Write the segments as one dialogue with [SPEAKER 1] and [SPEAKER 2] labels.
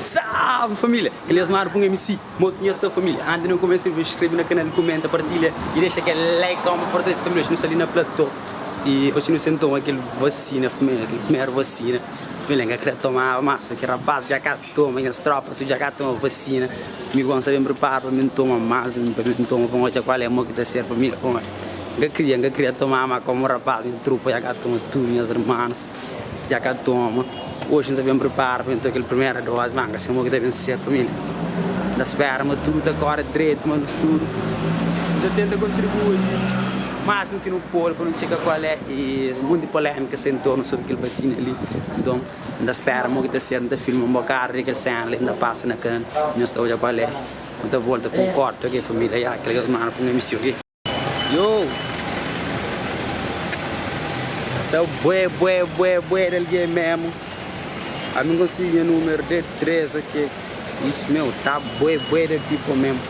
[SPEAKER 1] Salve família! Ele é Asmar Pung MC, Moto Nhos Sta Família. Antes não começa, eu vou inscrever no canal, comenta, partilha e deixa aquele like, como fortalece família. Hoje nós ali na platô e hoje nós sentamos aquele vacina, família, aquele primeiro vacina. Família, nunca queria tomar, mas só que rapaz, já cara. Toma nhas tropa tu dja ka toma vacina mi gon sa ben prepara pa ben toma mas un pa ben toma pa odja kual é mo ki ta ser pa mi da kuma n ka kria n ka kria toma ma komu rapaz nha trupa dja ka toma tudu nhas rmanus dja ka toma oxi n sa ben prepara pa ben toma kel primera dozi ma n ka se mo ki ta ben susedu pa mi la n ta spera ma tudu ta kore dretu ma nos tudu n ta tenta kontribui maxmu ki nu pode pa nu txeka kual é es monti polemika sa entornu sobri kel vacina li nton. N ta spera mo ki ta ser, N ta filma un bokadu di kel sena li, N ta pasa na kanu i nhos ta odja ku Alé. Nu ta volta ku un korti, txeu kel familia ya kel germanu ku nha misiu ki. Yo! Sta bué, bué, bué, bué di algen mesmu. Ami N konsigi nha numeru de tres, ok. Isu mesmu, ta bué, bué di people mesmu.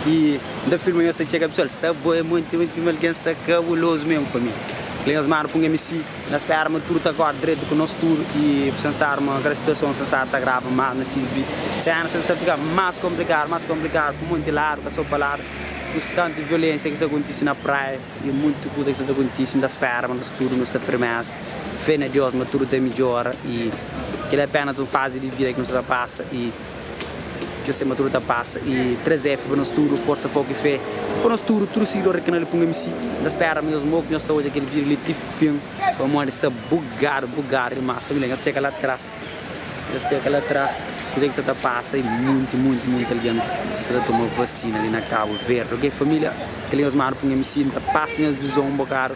[SPEAKER 1] I N ta filma nhos ta txega, pesual. Sta bué, monti, monti, monti algen. Sta kabulozu mesmu, familia. Kel germanu ku nha misiu. Na spera ma tudu ta akorda dretu ku nos tudu y ku sen stadu ma kada situason sen stadu ta agrava mas na si vi sena sen sta fika mas komplikadu mas komplikadu ku monti ladu ka so pa ladu ku si tantu violensia ki sa kontisi na praia y monti kuza ki sa ta kontisi nta spera ma nos tudu nos ta firmesa fe na Dios ma tudu ta midjora y kila apenas un fazi di vida ki nos ta pasa y. Kes tema tudu ta pasa y 3F pa nos tudu Forsa foku y fé pa nos tudu Tudu siguidor di kanal Ipunga MC N ta spera mesmu ok nhos ta odja kel video li ti fin pamodi sta bugadu bugadu dimas Família nhos txeka la tras nhos txeka la tras Kuzé ki sta ta pasa y munti munti munti algen sta ta toma vasina li na Cabo Verde ok Família kel li nhos manu Ipunga MC N ta pasa nhos vison un bokadu.